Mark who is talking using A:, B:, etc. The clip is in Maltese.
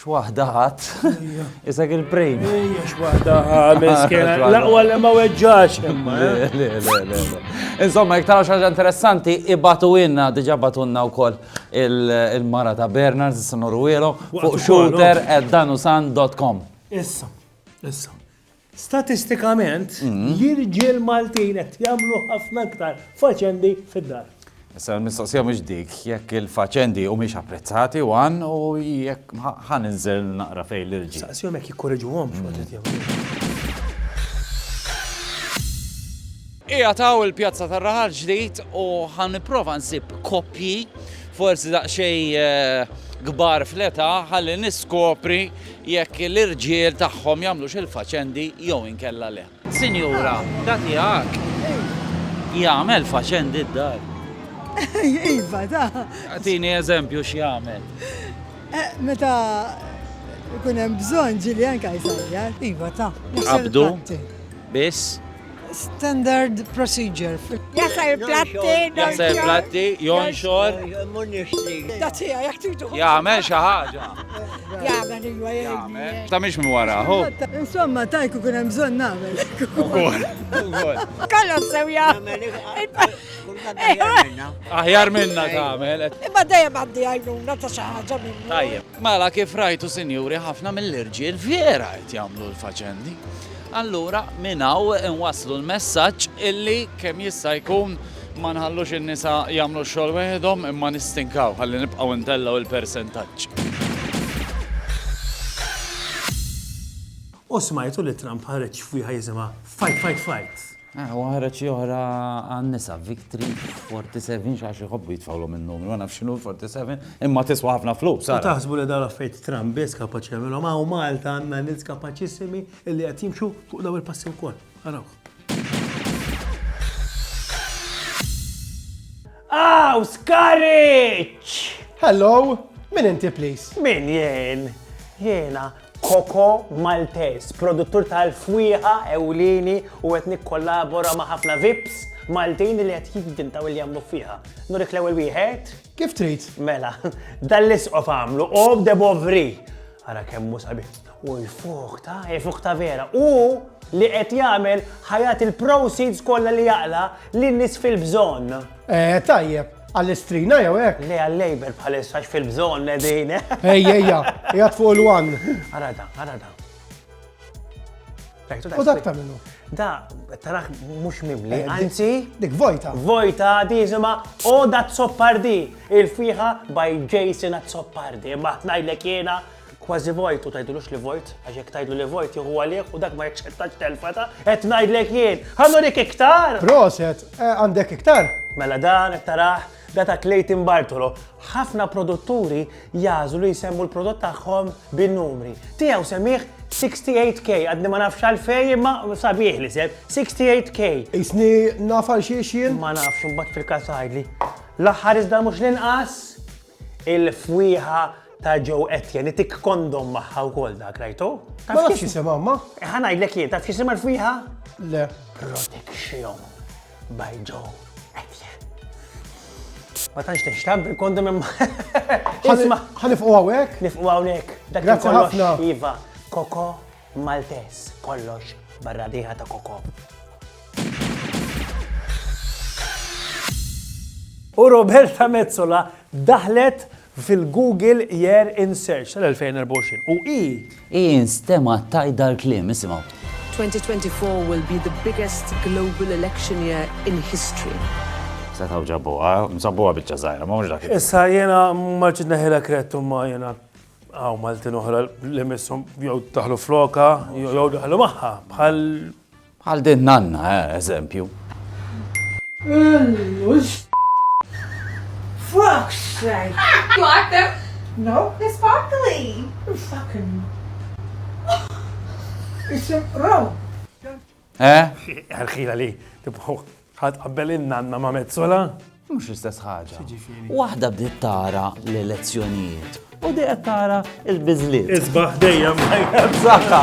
A: X'waħda ħadd. Isak il-brain. Ejja x'waħda
B: miskena. L-aqwa li ma weġġax.
A: Insomma, jek taraw xaġa interessanti, ibatu inna, diġa batunna u koll il-mara ta' Bernards, s-sonoru fuq shooter at danusan.com. Issa,
B: issa. Statistikament, l-irġiel Maltin qed jagħmlu ħafna iktar faċendi fid-dar. Issa l-mistoqsija
A: mhux dik jekk il-faċendi humiex apprezzati, one, u jekk ħa ninżel naqra fejn l-irġiel. Saqsihom jekk jikkoreġuhomx
B: waqt li qed jagħmlu.
A: Qiegħed hawn il-Pjazza tar-Raħal Ġdid u ħa nipprova nsib koppji forsi daqsxejn kbar fl-età ħalli niskopri Jekk l-irġiel tagħhom jagħmlux il-faċendi jew inkella le. Sinjura, da tiegħek jagħmel faċendi d-dar?
C: Iva, da. Agħtini eżempju
A: x'jagħmel.
C: Meta jkun hemm bżonn, ġilien Kajsar jgħid. Iva, ta.
D: Qabdu
A: biss Standard
D: procedure. Jasar
C: platti, jasar platti,
A: jonxor.
C: Da tija, jak titu. Jgħamel xaħġa.
A: Jgħamel
C: iwa jgħamel. Ta' miex mi wara, ho.
A: Insomma, tajku
C: kun hemm bżonn nagħmel. Ukoll.
A: Kollox sew
C: jagħmel.
A: Aħjar minna tagħmel. Imma dejjem għandi
C: għajnuna ta' xi ħaġa minnu. Tajjeb. Mela kif
A: rajtu sinjuri ħafna mill-irġiel vera qed jagħmlu l-faċendi. Allura minn hawn inwasslu l-messaġġ illi kemm jista' jkun ma nħallux in-nisa jagħmlu x-xogħol weħidhom imma nistinkaw ħalli nibqgħu ntellgħu l-persentaġġ.
B: U smajtu li Trump ħareġ f'wieħa jisimha Fight, Fight, Fight. Aha, u ħareġ xi
A: oħra għan-nisa, Victory 47, xi għax iħobbu jitfgħulhom in-numri, ma nafx x'inhu l-47, imma tiswa ħafna flus, ara. U taħsbu li dawn l-affarijiet
B: Trump biss kapaċi jagħmilhom, hawn Malta għandna nies kapaċissimi li qed jimxu fuq dawn il-passi wkoll. Arawh. Aw, Skariċċ! Hello,
E: min inti please? Min jien?
B: Jiena Coco Maltese, produttur tal-fwieħa ewlieni u qed nikkollabora ma' ħafna vips Maltin li qed jivvintaw li jagħmlu fwieħa. Nurik l-ewwel wieħed? Kif trid.
E: Mela,
B: dan l-isqof għamlu Eau de Bovry. Ara kemm hu sabiħ. U l-fuħ ta' hi fuħ ta' vera. U li qed jagħmel ħajat il-proceeds kollha li jaqla' lin-nies fil-bżonn. Eh, tajjeb.
E: Għall-istrina jew hekk? Le għal-labor bħalissa
B: fil-bżonn qegħdin. Ejja, ejja,
E: jgħat fuq il-wan. Ara da, ara
B: da.
E: U dak ta' minnu? Da, taraħ
B: mux mimli, eh, anzi. Dik vojta.
E: Vojta, di jisima,
B: o da zoppardi. Il-fiħa by Jason at zoppardi. Ma tnajdlek jena, Kważi vojt u tajdulux li vojt, għax jekk tajdlu li vojt jieħu għalih u dak ma jaċċettax telfa ta' qed ngħidlek jien. Ħanurik iktar! Proset, eh,
E: għandek iktar? Mela dan qed
B: tarah da ta' Clayton Bartolo. Ħafna produtturi jagħżlu li jsemmu l-prodott tagħhom bin-numri. Tiegħu semmih 68K, għadni ma nafx għalfej, imma sabiħ li seb, 68K. Isni
E: nafal xiex jien? Ma nafx, mbatt fil-kas
B: għajdli. L-aħħar iżda mux l-inqas, Il-fwieħa ta' Joe Etienne, li tik kondom maħħa u kol dak, rajtu? Ma nafx jisima,
E: ma? Eh, ħana jidlek jien, taf
B: jisima l-fwieħa? Le.
E: Protection
B: by Joe Etienne. Ma tanx nixtab il-kondom imma. Ħanifqu għawek?
E: Nifqu għawek.
B: Dak il-kollox, Iva,
E: koko.
B: Maltez kollox barra diha ta' koko. U Roberta Metsola daħlet fil-Google Year in Search tal-2024. U i. I instema
A: tajt dal-klim, isimgħu. 2024
F: will be the biggest global election year in history. Se taw
A: ġabuha, msabbuha biċċa żgħira, ma mhux dak. Issa jiena
B: ma ġid neħilek rettu ma jiena. Għaw Maltin oħra li missom jew taħlu floka, jew daħlu maħħa, bħal. Bħal din
A: nanna, eh, eżempju. Fuck's sake!
C: Block them? No.
G: They're
C: sparkly. Fucking. It's a row. Eh?
B: Għarħila li, tibħu, ħad qabbel il-nanna ma' mezzola?
A: Mux istess ħaġa. Waħda bdiet tara l-elezzjonijiet
B: u dejja tara il-bizliet. Isbaħ
H: dejjem.
B: Saħħa.